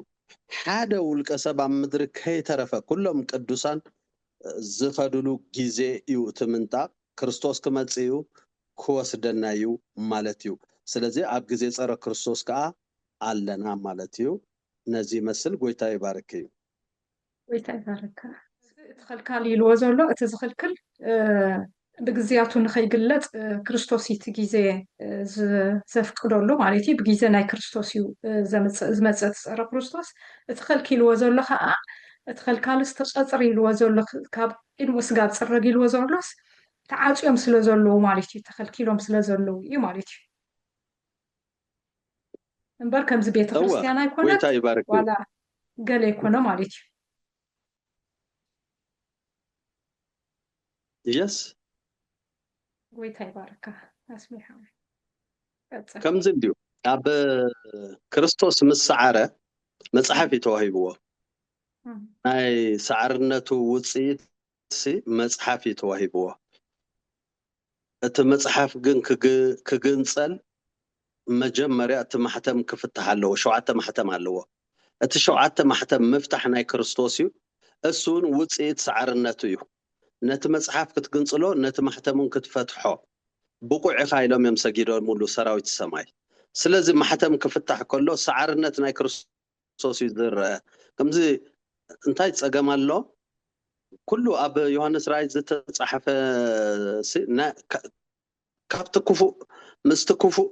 ሓደ ውልቀ ሰብ ኣብ ምድሪ ከይተረፈ ኩሎም ቅዱሳን ዝኸድሉ ግዜ እዩ እቲ ምንጣቅ ክርስቶስ ክመጽእ እዩ ክወስደና እዩ ማለት እዩ ስለዚ ኣብ ግዜ ጸረ ክርስቶስ ከኣ ኣለና ማለት እዩ ነዚ ይመስል ጎይታ ይባርኪ። ጎይታ ይባረካ እቲ ኸልካል ኢልዎ ዘሎ እቲ ዝኽልክል ብግዜያቱ ንኸይግለጽ ክርስቶስ እቲ ግዜ ዘፍቅደሉ ማለት እዩ ብግዜ ናይ ክርስቶስ እዩ ዝመፀ እቲ ፀረ ክርስቶስ እቲ ኸልኪልዎ ዘሎ ከዓ እቲ ኸልካልስ ተፀፅር ኢልዎ ዘሎ ካብ ቅድሚ ስጋብ ፅረግ ኢልዎ ዘሎስ ተዓፅዮም ስለ ዘለዉ ማለት እዩ ተኸልኪሎም ስለ ዘለዉ እዩ ማለት እዩ እምበር ከምዚ ቤተ እወ ክርስትያን ኣይኮነት ጎይታ ይባርኪ ዋላ ገለ ኣይኮነ ማለት እዩ የስ ጎይታ ይባርካ ኣስሜ ሓወይ ቀጽል ከምዚ እንድዩ ኣብ ክርስቶስ ምስ ሰዓረ መጽሓፍ እዩ ተዋሂብዎ እም፣ ናይ ሰዓርነቱ ውጽኢት ሲ መጽሓፍ እዩ ተዋሂብዎ እቲ መጽሓፍ ግን ክግንጸል መጀመርያ እቲ ማሕተም ክፍታሕ ኣለዎ ሸውዓተ ማሕተም ኣለዎ እቲ ሸውዓተ ማሕተም ምፍታሕ ናይ ክርስቶስ እዩ እሱውን ውጽኢት ሰዓርነቱ እዩ ነቲ መጽሓፍ ክትግንጽሎ ነቲ ማሕተምውን ክትፈትሖ ብቑዕ ኢኻ ኢሎም እዮም ሰጊዶሙሉ ሰራዊት ሰማይ ስለዚ ማሕተም ክፍታሕ ከሎ ሰዓርነት ናይ ክርስቶስ ክርስቶስ እዩ ዝረኣ ከምዚ እንታይ ጸገም ኣሎ ኩሉ ኣብ ዮሃንስ ራእይ ዝተጻሕፈ ካብቲ ክፉእ ምስቲ ክፉእ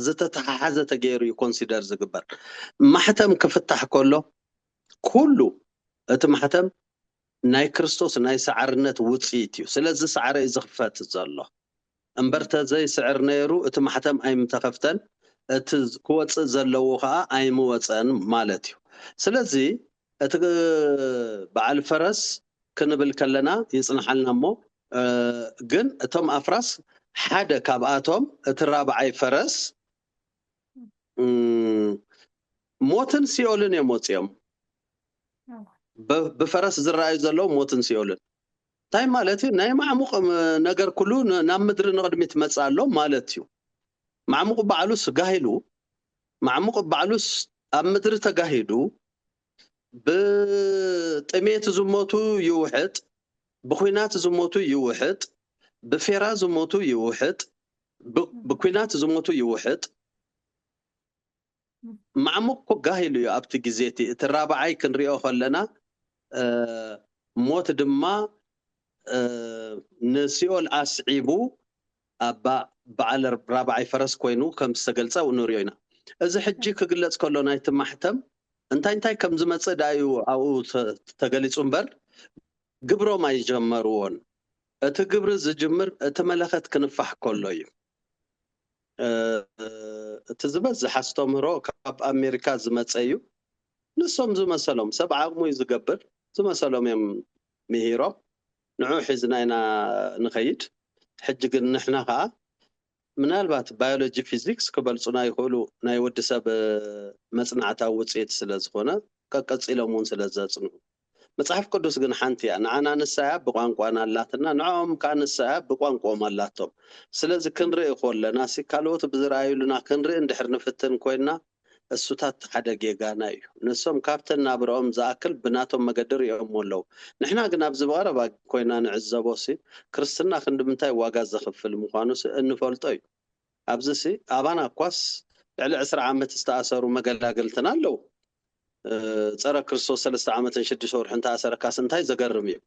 ዝተተሓሓዘ ተገይሩ እዩ ኮንሲደር ዝግበር ማሕተም ክፍታሕ ከሎ ኩሉ እቲ ማሕተም ናይ ክርስቶስ ናይ ሰዓርነት ውፅኢት እዩ ስለዚ ሰዓረ እዩ ዝኽፈት ዘሎ እምበር ተዘይ ስዕር ነይሩ እቲ ማሕተም ኣይምተኸፍተን እቲ ክወጽእ ዘለዎ ከኣ ኣይምወጸን ማለት እዩ ስለዚ እቲ በዓል ፈረስ ክንብል ከለና ይጽንሓልና እሞ ግን እቶም ኣፍራስ ሓደ ካብኣቶም እቲ ራብዓይ ፈረስ ሞትን ሲኦልን እዮም ወጺኦም ብፈረስ ዝረኣዩ ዘለዉ ሞትን ሲኦልን እንታይ ማለት እዩ? ናይ ማዕሙቕ ነገር ኩሉ ናብ ምድሪ ንቕድሚት መጽእ ኣሎ ማለት እዩ። ማዕሙቕ ባዕሉስ ጋሂሉ፣ ማዕሙቕ ባዕሉስ ኣብ ምድሪ ተጋሂዱ፣ ብጥሜት ዝሞቱ ይውሕጥ፣ ብኩናት ዝሞቱ ይውሕጥ፣ ብፌራ ዝሞቱ ይውሕጥ፣ ብኩናት ዝሞቱ ይውሕጥ፣ ማዕሙቅ እኮ ጋህ ኢሉ እዩ ኣብቲ ግዜ እቲ እቲ ራብዓይ ክንሪኦ ከለና ሞት ድማ ንሲኦል ኣስዒቡ ኣባ በዓል ራብዓይ ፈረስ ኮይኑ ከም ዝተገልጸ ንሪኦ ኢና እዚ ሕጂ ክግለጽ ከሎ ናይቲ ማሕተም እንታይ እንታይ ከም ዝመጽእ ድኣ እዩ ኣብኡ ተገሊጹ እምበር ግብሮም ኣይጀመርዎን እቲ ግብሪ ዝጅምር እቲ መለኸት ክንፋሕ ከሎ እዩ እቲ ዝበዝሕ ኣስተምህሮ ካብ ኣሜሪካ ዝመፀ እዩ። ንሶም ዝመሰሎም ሰብ ዓቕሙ እዩ ዝገብር። ዝመሰሎም እዮም ምሂሮም። ንዑ ሒዝና ኢና ንኸይድ። ሕጂ ግን ንሕና ከኣ ምናልባት ባዮሎጂ ፊዚክስ ክበልጹና ይኽእሉ ናይ ወዲ ሰብ መጽናዕታዊ ውጽኢት ስለ ዝኾነ ቀቀጺሎም እውን ስለ ዘጽንዑ። መጽሓፍ ቅዱስ ግን ሓንቲ እያ ንዓና ንሳ እያ ብቋንቋና ኣላትና ንዕኦም ከኣ ንሳ እያ ብቋንቁኦም ኣላቶም ስለዚ ክንርኢ ኮለናሲ ካልኦት ብዝርኣዩሉና ክንርኢ እንድሕር ንፍትን ኮይና እሱታት ሓደ ጌጋና እዩ ንሶም ካብቲ ናብርኦም ዝኣክል ብናቶም መገዲ ሪኦሞ ኣለዉ ንሕና ግን ኣብዚ ብቐረባ ኮይና ንዕዘቦሲ ክርስትና ክንድምንታይ ዋጋ ዘኽፍል ምዃኑሲ እንፈልጦ እዩ። ኣብዚሲ ኣባና እኳስ ልዕሊ ዕስራ ዓመት ዝተኣሰሩ መገላግልትና ኣለዉ። ጸረ ክርስቶስ ሰለስተ ዓመትን ሽዱሽተ ወርሕን ተኣሰረካስ እንታይ ዘገርም እዩ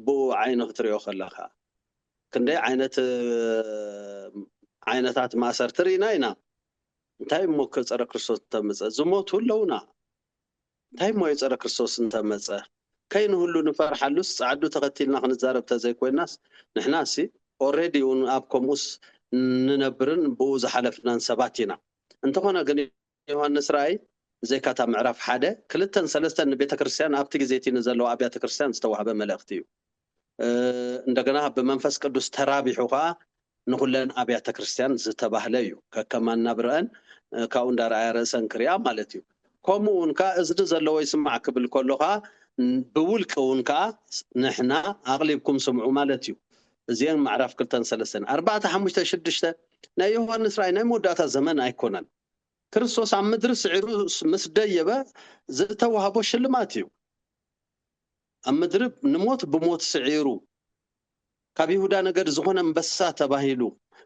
ብኡ ዓይኒ ክትሪኦ ከለኻ። ክንደይ ዓይነት ዓይነታት ማእሰርቲ ርኢና ኢና። እንታይ እሞከ ጸረ ክርስቶስ እተምጽእ። ዝሞቱ ኣለዉና። እንታይ እሞ የጸረ ክርስቶስ እንተ መጸ ከይንህሉ ንፈርሓሉስ ጸዓዱ ተኸቲልና ክንዛረብ ተዘይ ኮይናስ ንሕናሲ ኦሬዲ ውን ኣብ ከምኡስ ንነብርን ብኡ ዝሓለፍናን ሰባት ኢና እንተኾነ ግን ዮሃንስ ራእይ ብዘይካ እታ ምዕራፍ ሓደ ክልተን ሰለስተን ንቤተክርስትያን ኣብቲ ግዜ እቲ ንዘለዋ ኣብያተ ክርስትያን ዝተዋህበ መልእኽቲ እዩ። እንደገና ብመንፈስ ቅዱስ ተራቢሑ ከኣ ንኹለን ኣብያተ ክርስቲያን ዝተባህለ እዩ። ከከም ኣናብርኣን ካብኡ እንዳርኣያ ርእሰን ክሪኣ ማለት እዩ። ከምኡ እውን ከኣ እዝኒ ዘለዎ ይስማዕ ክብል ከሎ ከኣ ብውልቂ እውን ከኣ ንሕና ኣቕሊብኩም ስምዑ ማለት እዩ። እዚኤን ምዕራፍ ክልተን ሰለስተን። ኣርባዕተ ሓሙሽተ ሽዱሽተ ናይ ዮሃንስ ራእይ ናይ መወዳእታ ዘመን ኣይኮነን። ክርስቶስ ኣብ ምድሪ ስዒሩ ምስ ደየበ ዝተዋህቦ ሽልማት እዩ። ኣብ መድርብ ንሞት ብሞት ስዒሩ ካብ ይሁዳ ነገድ ዝኾነ ኣንበሳ ተባሂሉ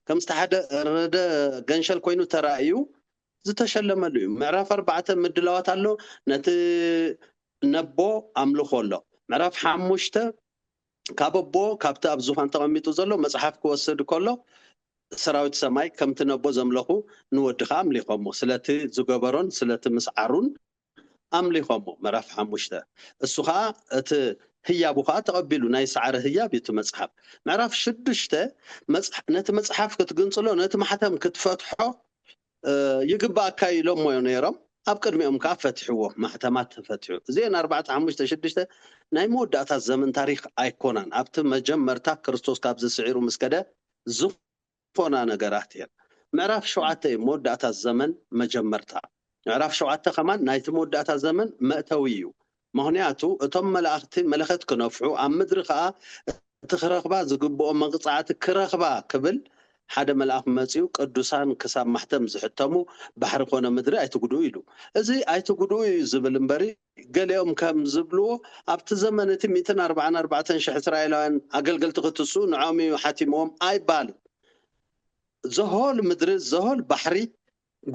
ከም ዝተሓረደ ገንሸል ኮይኑ ተራእዩ ዝተሸለመሉ እዩ። ምዕራፍ ኣርባዕተ ምድላዋት ኣሎ፣ ነቲ ነቦ ኣምልኾ ኣሎ። ምዕራፍ ሓሙሽተ ካብ ኣቦ ካብቲ ኣብ ዙፋን ተቐሚጡ ዘሎ መጽሓፍ ክወስድ ከሎ ሰራዊት ሰማይ ከምቲ ነቦ ዘምለኹ ንወዲ ከኣ ኣምሊኾሞ ስለቲ ዝገበሮን ስለቲ ምስዓሩን ኣምሊኾሞ፣ ምዕራፍ ሓሙሽተ፣ እሱ ኸኣ እቲ ህያቡ ኸኣ ተቐቢሉ፣ ናይ ሰዓረ ህያብ እዩ እቲ መጽሓፍ፣ ምዕራፍ ሽዱሽተ፣ ነቲ መጽሓፍ ክትግንጽሎ፣ ነቲ ማሕተም ክትፈትሖ ይግብኣካዩ ኢሎሞዮ ነይሮም፣ ኣብ ቅድሚኦም ከኣ ፈትሕዎ፣ ማሕተማት ተፈትሑ፣ እዚኤን ኣርባዕተ፣ ሓሙሽተ፣ ሽዱሽተ ናይ መወዳእታ ዘመን ታሪኽ ኣይኮናን፣ ኣብቲ መጀመርታ ክርስቶስ ካብዚ ስዒሩ ምስ ከደ፣ ፎና ነገራት እየን። ምዕራፍ ሸውዓተ እዩ መወዳእታ ዘመን መጀመርታ። ምዕራፍ ሸውዓተ ከማን ናይቲ መወዳእታ ዘመን መእተዊ እዩ። መክንያቱ እቶም መላእክቲ መለከት ክነፍሑ ኣብ ምድሪ ከኣ እቲ ክረክባ ዝግብኦ መቅጻዕቲ ክረክባ ክብል ሓደ መልኣክ መጺኡ ቅዱሳን ክሳብ ማሕተም ዝሕተሙ ባሕሪ ኮነ ምድሪ ኣይትጉድኡ ኢሉ። እዚ ኣይትጉድኡ እዩ ዝብል እምበሪ ገሊኦም ከም ዝብልዎ፣ ኣብቲ ዘመን እቲ ሚእትን ኣርብዓን ኣርባዕተን ሽሕ እስራኤላውያን ኣገልገልቲ ኽትስኡ ንዖም እዩ ሓቲምዎም ኣይባልን። ዘሆል ምድሪ ዘሆል ባሕሪ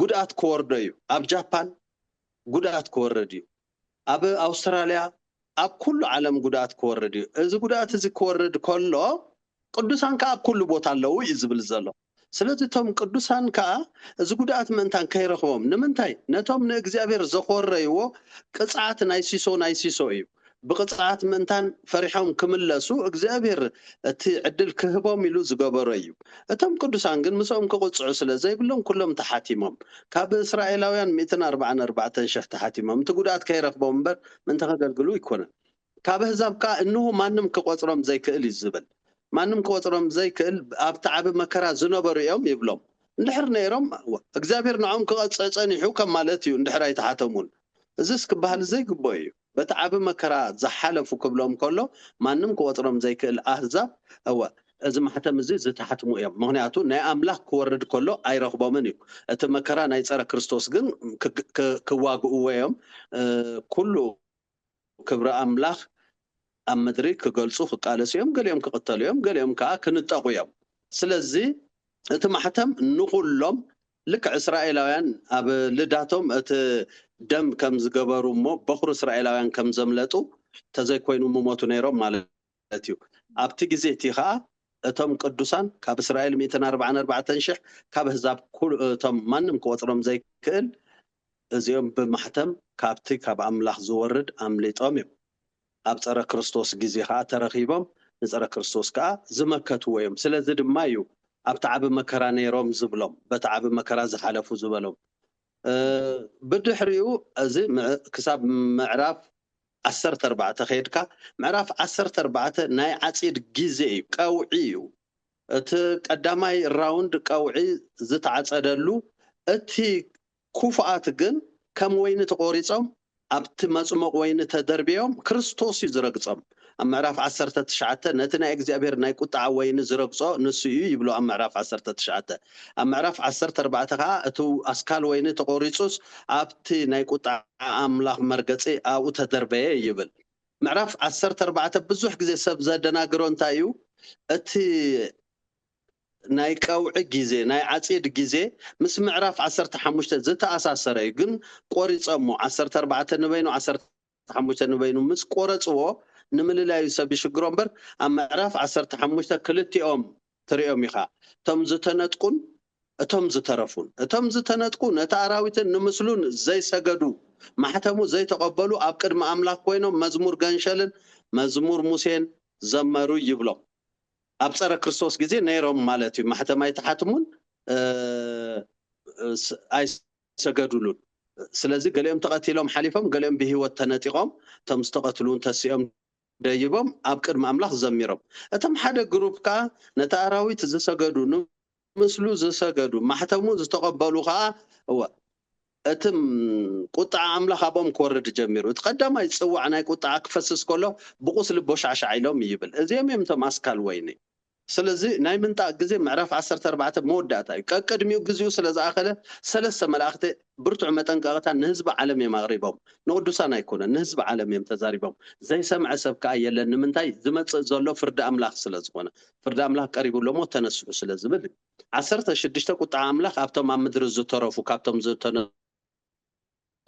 ጉድኣት ክወርዶ እዩ። ኣብ ጃፓን ጉድኣት ክወርድ እዩ። ኣብ ኣውስትራልያ ኣብ ኩሉ ዓለም ጉድኣት ክወርድ እዩ። እዚ ጉድኣት እዚ ክወርድ ከሎ ቅዱሳን ከኣ ኣብ ኩሉ ቦታ ኣለዉ እዩ ዝብል ዘሎ። ስለዚ እቶም ቅዱሳን ከኣ እዚ ጉድኣት ምእንታን ከይረኽቦም ንምንታይ ነቶም ንእግዚኣብሔር ዘኾረይዎ ቅጽዓት ናይ ሲሶ ናይ ሲሶ እዩ ብቅጽዓት ምእንታን ፈሪሖም ክምለሱ እግዚኣብሔር እቲ ዕድል ክህቦም ኢሉ ዝገበሮ እዩ እቶም ቅዱሳን ግን ምስኦም ክቅጽዑ ስለ ዘይብሎም ኩሎም ተሓቲሞም ካብ እስራኤላውያን ሚእትን ኣርባዓን ኣርባዕተን ሽሕ ተሓቲሞም እቲ ጉድኣት ከይረኽቦም እምበር ምእንቲ ከገልግሉ ኣይኮነን ካብ ኣህዛብ ከኣ እንሆ ማንም ኪቖጽሮም ዘይክእል እዩ ዚብል። ማንም ኪቖጽሮም ዘይክእል ኣብቲ ዓቢ መከራ ዝነበሩ እዮም ይብሎም። እንድሕር ነይሮም እግዚኣብሄር ንዕኦም ኪቐጽዕ ጸኒሑ ከም ማለት እዩ እንድሕር ኣይተሓተሙን። እዝስ ኪበሃል ዘይግብኦ እዩ። በቲ ዓቢ መከራ ዝሓለፉ ክብሎም ከሎ ማንም ኪቖጽሮም ዘይክእል ኣህዛብ እወ። እዚ ማሕተም እዚ ዝተሓትሙ እዮም ምኽንያቱ ናይ ኣምላኽ ኪወርድ ከሎ ኣይረኽቦምን እዩ። እቲ መከራ ናይ ጸረ ክርስቶስ ግን ኪዋግእዎ እዮም ኩሉ። ክብሪ ኣምላኽ ኣብ ምድሪ ክገልጹ ክቃለሱ እዮም፣ ገሊኦም ክቕተሉ እዮም፣ ገሊኦም ከኣ ክንጠቑ እዮም። ስለዚ እቲ ማሕተም ንኹሎም ልክዕ እስራኤላውያን ኣብ ልዳቶም እቲ ደም ከም ዝገበሩ እሞ በዅሪ እስራኤላውያን ከም ዘምለጡ ተዘይኮይኑ ምሞቱ ነይሮም ማለት እዩ። ማለት እዩ። ኣብቲ ግዜ እቲ ኸኣ እቶም ቅዱሳን ካብ እስራኤል ሚእትን ኣርባዓን ኣርባዕተን ሽሕ ካብ ኣህዛብ ኩሉ እቶም ማንም ክቆጽሮም ዘይክእል እዚኦም ብማሕተም ካብቲ ካብ ኣምላኽ ዝወርድ ኣምሊጦም እዮም ኣብ ጸረ ክርስቶስ ግዜ ኸኣ ተረኺቦም ንጸረ ክርስቶስ ከኣ ዝመከትዎ እዮም ስለዚ ድማ እዩ ኣብቲ ዓቢ መከራ ነይሮም ዝብሎም በቲ ዓቢ መከራ ዝሓለፉ ዝበሎም ብድሕሪኡ እዚ ክሳብ ምዕራፍ ዓሰርተ ኣርባዕተ ከይድካ ምዕራፍ ዓሰርተ ኣርባዕተ ናይ ዓጺድ ግዜ እዩ ቀውዒ እዩ እቲ ቀዳማይ ራውንድ ቀውዒ ዝተዓጸደሉ እቲ ኩፉኣት ግን ከም ወይኒ ተቆሪጾም ኣብቲ መጽሞቅ ወይኒ ተደርብዮም ክርስቶስ እዩ ዝረግጸም ኣብ ምዕራፍ ዓሰርተ ትሽዓተ ነቲ ናይ እግዚኣብሔር ናይ ቁጥዓ ወይኒ ዝረግጾ ንሱ እዩ ይብሎ ኣብ ምዕራፍ ዓሰርተ ትሽዓተ ኣብ ምዕራፍ ዓሰርተ ኣርባዕተ ከኣ እቲ ኣስካል ወይኒ ተቖሪጹስ ኣብቲ ናይ ቁጥዓ ኣምላኽ መርገጺ ኣብኡ ተደርበየ ይብል። ምዕራፍ ዓሰርተ ኣርባዕተ ብዙሕ ግዜ ሰብ ዘደናግሮ እንታይ እዩ እቲ ናይ ቀውዒ ግዜ ናይ ዓጺድ ግዜ ምስ ምዕራፍ ዓሰርተ ሓሙሽተ ዝተኣሳሰረ እዩ ግን ቆሪጸሞ ዓሰርተ ኣርባዕተ ንበይኑ ዓሰርተ ሓሙሽተ ንበይኑ ምስ ቆረጽዎ ንምልላዩ ሰብ ይሽግሮ እምበር ኣብ ምዕራፍ ዓሰርተ ሓሙሽተ ክልቲኦም ትሪኦም ኢኻ እቶም ዝተነጥቁን እቶም ዝተረፉን እቶም ዝተነጥቁ ነቲ ኣራዊትን ንምስሉን ዘይሰገዱ ማሕተሙ ዘይተቐበሉ ኣብ ቅድሚ ኣምላኽ ኮይኖም መዝሙር ገንሸልን መዝሙር ሙሴን ዘመሩ ይብሎም ኣብ ጸረ ክርስቶስ ግዜ ነይሮም ማለት እዩ ማሕተም ኣይትሓትሙን ኣይ ኣይሰገዱሉን። ስለዚ ገሊኦም ተቐቲሎም ሓሊፎም፣ ገሊኦም ብህይወት ተነጢቖም፣ እቶም ዝተቐትሉውን ተሲኦም ደይቦም ኣብ ቅድሚ ኣምላኽ ዘሚሮም። እቶም ሓደ ግሩፕ ከኣ ነቲ ኣራዊት ዝሰገዱ፣ ንምስሉ ዝሰገዱ፣ ማሕተሙ ዝተቐበሉ ኸኣ፣ እወ፣ እቲ ቍጥዓ ኣምላኽ ኣብኦም ክወርድ ጀሚሩ። እቲ ቐዳማይ ጽዋዕ ናይ ቍጥዓ ክፈስስ ከሎ፣ ብቝስሊ ቦሻዕሻዕ ኢሎም ይብል። እዚኦም እዮም እቶም ኣስካል ወይኒ። ስለዚ ናይ ምንጣቅ ግዜ ምዕራፍ ዓሰርተ ኣርባዕተ መወዳእታ እዩ። ቀቅድሚኡ ግዚኡ ስለ ዝኣኸለ ሰለስተ መላእኽቲ ብርቱዕ መጠንቀቅታ ንህዝቢ ዓለም እዮም ኣቅሪቦም። ንቅዱሳን ኣይኮነን ንህዝቢ ዓለም እዮም ተዛሪቦም። ዘይሰምዐ ሰብ ከኣ የለን ንምንታይ ዝመጽእ ዘሎ ፍርዲ ኣምላኽ ስለ ዝኾነ። ፍርዲ ኣምላኽ ቀሪቡ ኣሎ እሞ ተነስሑ ስለ ዝብል እዩ። ዓሰርተ ሽዱሽተ ቁጥዓ ኣምላኽ ኣብቶም ኣብ ምድሪ ዝተረፉ ካብቶም ዝተነሱ።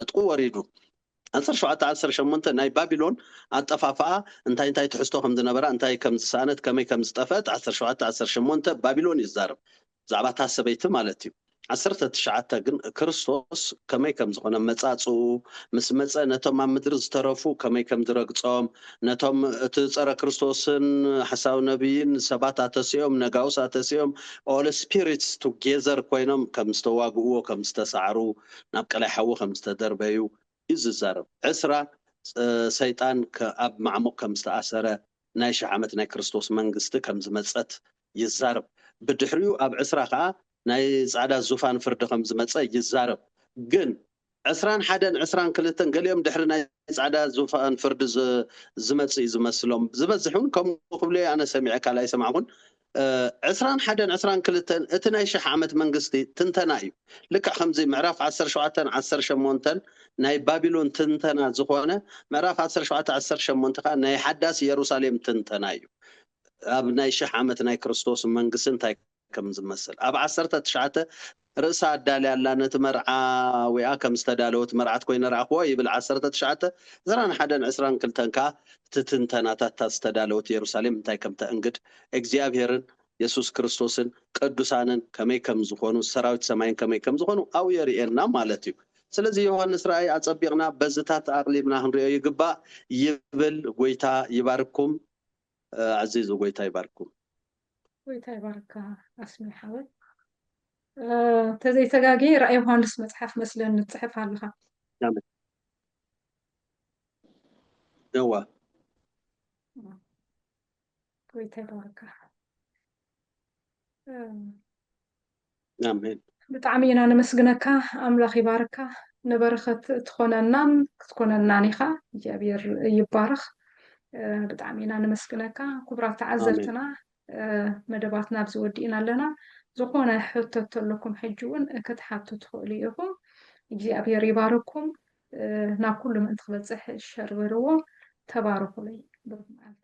ዕጥቁ ወሪዱ። ዓሰርተ ሸውዓተ ዓሰርተ ሸሞንተ ናይ ባቢሎን ኣጠፋፍኣ እንታይ እንታይ ትሕዝቶ ከም ዝነበራ እንታይ ከም ዝሰኣነት ከመይ ከም ዝጠፍአት ዓሰርተ ሸውዓተ ዓሰርተ ሸሞንተ ባቢሎን እዩ ዝዛረብ ብዛዕባ እታ ሰበይቲ ማለት እዩ ዓሰርተ ትሽዓተ ግን ክርስቶስ ከመይ ከም ዝኾነ መጻጽኡ ምስ መጸ ነቶም ኣብ ምድሪ ዝተረፉ ከመይ ከም ዝረግጾም ነቶም እቲ ጸረ ክርስቶስን ሓሳዊ ነብይን ሰባት ኣተሲኦም ነጋውስ ኣተሲኦም ኦል ስፒሪትስ ቱጌዘር ኮይኖም ከም ዝተዋግእዎ ከም ዝተሳዕሩ ናብ ቀላይ ሓዊ ከም ዝተደርበዩ እዩ ዝዛረብ። ዕስራ፣ ሰይጣን ኣብ ማዕሙቕ ከም ዝተኣሰረ፣ ናይ ሽሕ ዓመት ናይ ክርስቶስ መንግስቲ ከም ዝመጸት ይዛረብ። ብድሕሪኡ ኣብ ዕስራ ከኣ ናይ ጻዕዳ ዙፋን ፍርዲ ከም ዝመጸ ይዛረብ። ግን ዕስራን ሓደን ዕስራን ክልተን ገሊኦም ድሕሪ ናይ ጻዕዳ ዙፋን ፍርዲ ዝመጽእ እዩ ዝመስሎም። ዝበዝሕ እውን ከምኡ ክብሉ ኣነ ሰሚዐ ካልኣይ ኣይሰማዕኩን። ዕስራን ሓደን ዕስራን ክልተን እቲ ናይ ሽሕ ዓመት መንግስቲ ትንተና እዩ። ልክዕ ከምዚ ምዕራፍ ዓሰርተ ሸውዓተን ዓሰርተ ሸሞንተን ናይ ባቢሎን ትንተና ዝኾነ ምዕራፍ ዓሰርተ ሸውዓተ ዓሰርተ ሸሞንተ ከኣ ናይ ሓዳስ ኢየሩሳሌም ትንተና እዩ። ኣብ ናይ ሽሕ ዓመት ናይ ክርስቶስ መንግስቲ እንታይ ከም ዝመስል ኣብ ዓሰርተ ትሽዓተ ርእሳ ኣዳልያ ኣላ ነቲ መርዓ ዊኣ ከም ዝተዳለወት መርዓት ኮይነ ረኣክዋ ይብል ዓሰርተ ትሽዓተ ዕስራን ሓደን ዕስራን ክልተን ከኣ እቲ ትንተናታት እታ ዝተዳለወት የሩሳሌም እንታይ ከም ተእንግድ እግዚኣብሔርን የሱስ ክርስቶስን ቅዱሳንን ከመይ ከም ዝኮኑ ሰራዊት ሰማይን ከመይ ከም ዝኮኑ ኣብኡ የርእየና ማለት እዩ ስለዚ ዮሃንስ ራእይ ኣጸቢቅና በዝታት ኣቅሊብና ክንሪኦ ይግባእ ይብል ጎይታ ይባርክኩም። ኣዚዙ ጎይታ ይባርኩም። ጎይታ ይባርካ ኣስሜ ሓወይ ተዘይተጋጊ ራእይ ዮሃንስ መጽሓፍ መስለን ንጽሕፍ ኣለኻ ደዋ ጎይታ ይባርካ ኣሜን። ብጣዕሚ ኢና ነመስግነካ ኣምላኽ ይባርካ ንበረኸት ትኾነናን ክትኮነናን ኢኻ እግዚኣብሔር ይባረኽ ብጣዕሚ ኢና ነመስግነካ ክቡራት ተዓዘብትና መደባትና ኣብዚ ወዲእና ኣለና ዝኾነ ሕቶ ተለኩም ሕጂ እውን ክትሓቱ ትኽእሉ ኢኹም እግዚኣብሔር ይባርኩም ናብ ኩሉ ምእንቲ ክበፅሕ ሸር በልዎ ተባረኹለይ ብሩክ መዓልቲ